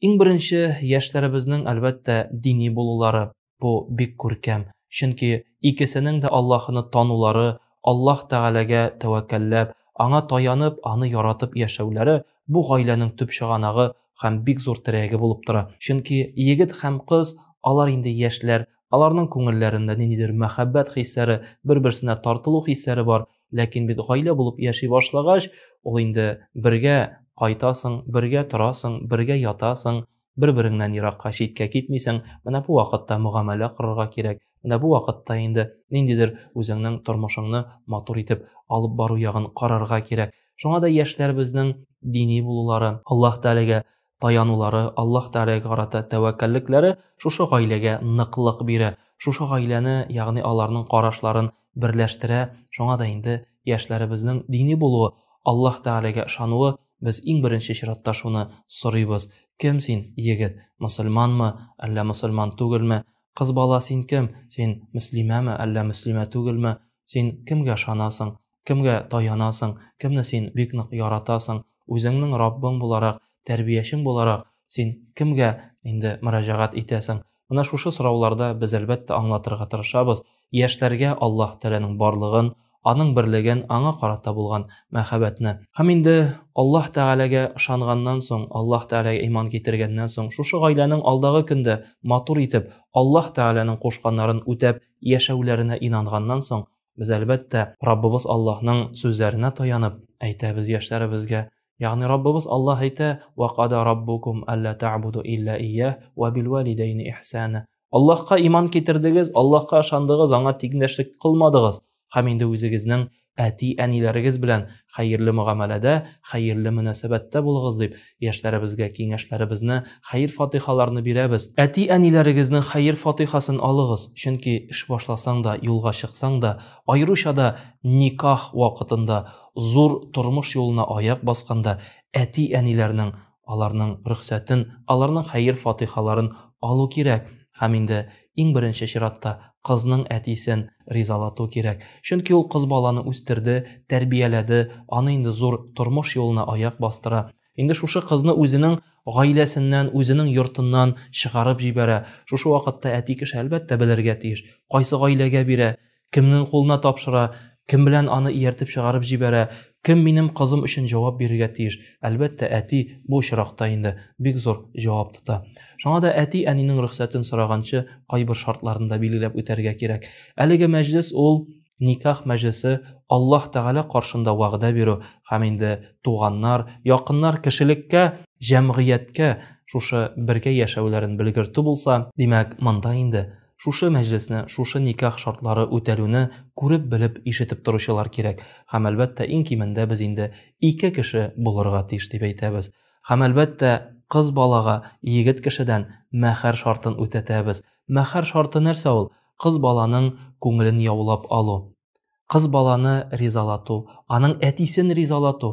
Иң беренче, яшьләребезнең, әлбәттә, дини булулары. Бу бик күркәм, чөнки икесенең дә Аллаһыны танулары, Аллаһ Тәгаләгә тәвәккәлләп, Аңа таянып, Аны яратып яшәүләре бу гаиләнең төп чыганагы һәм бик зур терәге булып тора. Чөнки егет һәм кыз, алар инде яшьләр, аларның күңелләрендә ниндидер мәхәббәт хисләре, бер-берсенә тартылу хисләре бар, ләкин бит гаилә булып яши башлагач ул инде бергә кайтасың бергә торасың бергә ятасың бер береңнән еракка читкә китмисең менә бу вакытта мөгамәлә корырга кирәк менә бу вакытта инде ниндидер үзеңнең тормышыңны матур итеп алып бару ягын карарга кирәк шуңа да яшьләребезнең дини булулары аллаһ тәгаләгә таянулары, Аллаһ Тәгаләгә карата тәвәккәллекләре шушы гаиләгә ныклык бирә, шушы гаиләне, ягъни аларның карашларын берләштерә. Шуңа да инде яшьләребезнең дини булуы, Аллаһ Тәгаләгә ышануы, без иң беренче чиратта шуны сорыйбыз. Кем син, егет, мөселманмы, әллә мөселман түгелме? Кыз бала, син кем, син мөслимәме, әллә мөслимә түгелме? Син кемгә ышанасың? Кемгә таянасың, кемне син бик нык яратасың, үзеңнең Раббың буларак, тәрбиячең буларак, син кемгә инде мөрәҗәгать итәсең? Менә шушы сорауларда без, әлбәттә, аңлатырга тырышабыз, яшьләргә Аллаһ Тәгаләнең барлыгын, Аның берлеген, Аңа карата булган мәхәббәтне. Һәм инде Аллаһ Тәгаләгә ышанганнан соң, Аллаһ Тәгаләгә иман китергәннән соң, шушы гаиләнең алдагы көндә матур итеп, Аллаһ Тәгаләнең кушканнарын үтәп яшәүләренә инанганнан соң, Без әлбәттә Раббыбыз Аллаһның сүзләренә таянып әйтәбез яшьләребезгә. Ягъни Раббыбыз Аллаһ әйтә: "Ва када раббукум алла та'буду илля ия ва бил валидайни ихсана". Аллаһка иман китердегез, Аллаһка ышандыгыз, аңа тиңдәшлек кылмадыгыз. Һәм инде үзегезнең әти-әниләрегез белән хәерле мөгамәләдә, хәерле мөнәсәбәттә булыгыз, дип Яшьләребезгә киңәшләребезне, хәер-фатыйхаларны бирәбез. Әти-әниләрегезнең хәер-фатыйхасын алыгыз, чөнки эш башласаң да, юлга чыксаң да, аеруча да никах вакытында, зур тормыш юлына аяк басканда әти-әниләрнең, аларның рөхсәтен, аларның хәер-фатыйхаларын алу кирәк. Һәм инде иң беренче чиратта кызның әтисен ризалату кирәк. Чөнки ул кыз баланы үстерде, тәрбияләде, аны инде зур тормыш юлына аяк бастыра. Инде шушы кызны үзенең гаиләсеннән, үзенең йортыннан чыгарып җибәрә. Шушы вакытта әти кеше, әлбәттә, белергә тиеш, кайсы гаиләгә бирә, Кемнең кулына тапшыра, кем белән аны ияртеп чыгарып җибәрә, кем минем кызым өчен җавап бирергә тиеш? Әлбәттә, әти бу очракта инде бик зур җавап тота. Шуңа да әти-әнинең рөхсәтен сораганчы, кайбер шартларын да билгеләп үтәргә кирәк. Әлеге мәҗлес ул никах мәҗлесе, Аллаһ Тәгалә каршында вәгъдә бирү һәм инде туганнар, якыннар, кешелеккә, җәмгыятькә шушы бергә яшәүләрен белгертү булса, димәк, монда инде Шушы мәҗлесне, шушы никах шартлары үтәлүне күреп-белеп, ишетеп торучылар кирәк. Һәм, әлбәттә, иң кимендә без инде ике кеше булырга тиеш дип әйтәбез. Һәм, әлбәттә, кыз балага егет кешедән мәһәр шартын үтәтәбез. Мәһәр шарты нәрсә ул? Кыз баланың күңелен яулап алу. Кыз баланы ризалату, аның әтисен ризалату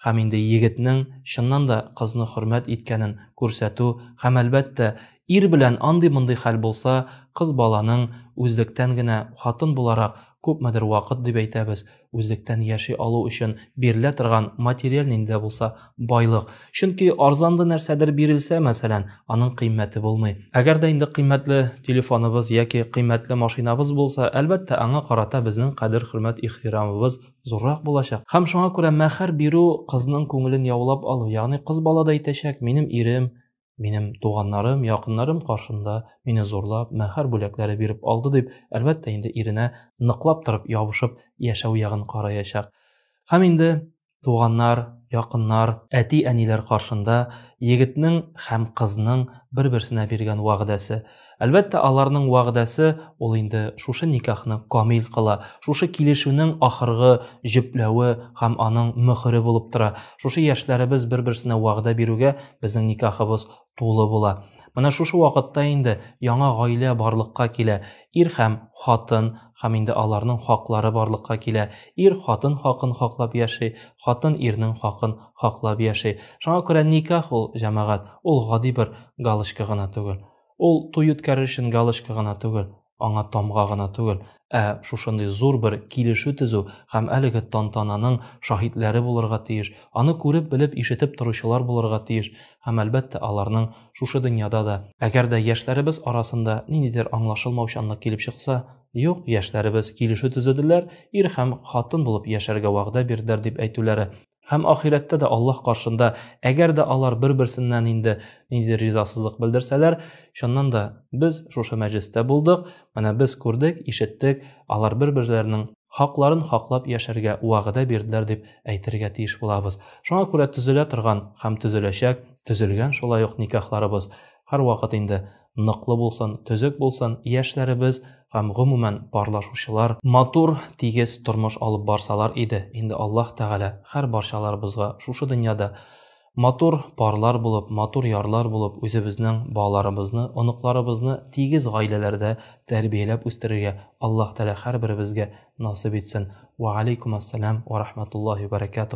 һәм инде егетнең чыннан да кызны хөрмәт иткәнен күрсәтү һәм, әлбәттә, ир белән андый-мондый хәл булса, кыз баланың үзлектән генә, хатын буларак, күпмедер вакыт дип әйтәбез, үзлектән яши алу өчен бирелә торган материаль нинди дә булса байлык. Чөнки арзанлы нәрсәдер бирелсә, мәсәлән, аның кыйммәте булмый. Әгәр дә инде кыйммәтле телефоныбыз яки кыйммәтле машинабыз булса, әлбәттә, аңа карата безнең кадер-хөрмәт, ихтирамыбыз зуррак булачак. Һәм шуңа күрә мәһәр бирү кызның күңелен яулап алу, ягъни кыз бала да әйтәчәк, минем ирем, Минем туганнарым, якыннарым каршында мине зурлап, мәһәр бүләкләре биреп алды дип, әлбәттә инде иренә ныклап торып ябышып яшәү ягын караячак. Һәм инде туганнар, якыннар, әти-әниләр каршында егетнең һәм кызның бер-берсенә биргән вәгъдәсе, Әлбәттә, аларның вәгъдәсе ул инде шушы никахны камил кыла, шушы килешүнең ахыргы җөпләве һәм аның мөһере булып тора. Шушы яшьләребез бер-берсенә вәгъдә бирүгә безнең никахыбыз тулы була. Менә шушы вакытта инде яңа гаилә барлыкка килә, ир һәм хатын Һәм инде аларның хаклары барлыкка килә. Ир хатын хакын хаклап яши, хатын ирнең хакын хаклап яши. Шуңа күрә никах ул, җәмәгать, ул гади бер галочка гына түгел. Ул туй үткәрер өчен галочка гына түгел, аңа тамга гына түгел, ә шушындый зур бер килешү төзү һәм әлеге тантананың шаһитләре булырга тиеш, аны күреп-белеп, ишетеп торучылар булырга тиеш, һәм, әлбәттә, аларның шушы дөньяда да. Әгәр дә яшьләребез арасында ниндидер аңлашылмаучанлык килеп чыкса, юк, яшьләребез килешү төзеделәр, ир һәм хатын булып яшәргә вәгъдә бирделәр, дип әйтүләре, һәм ахирәттә дә Аллаһ каршында, әгәр дә алар бер-берсеннән инде ниндидер ризасызлык белдерсәләр, чыннан да, без шушы мәҗлестә булдык, Менә без күрдек, ишеттек, алар бер-берләренең хакларын хаклап яшәргә вәгъдә бирделәр дип әйтергә тиеш булабыз. Шуңа күрә төзелә торган һәм төзеләчәк, төзелгән шулай ук никахларыбыз һәрвакыт инде ныклы булсын, төзек булсын, яшьләребез һәм гомумән парлашучылар матур, тигез тормыш алып барсалар иде, инде Аллаһ Тәгалә һәрбарчаларыбызга шушы дөньяда Матур парлар булып, матур ярлар булып үзебезнең балаларыбызны, оныкларыбызны тигез гаиләләрдә тәрбияләп үстерергә Аллаһ Тәгалә һәрберебезгә насыйп итсен. Вә алейкум ассәлам вә рахматуллаһи вә бәрәкәтүһ.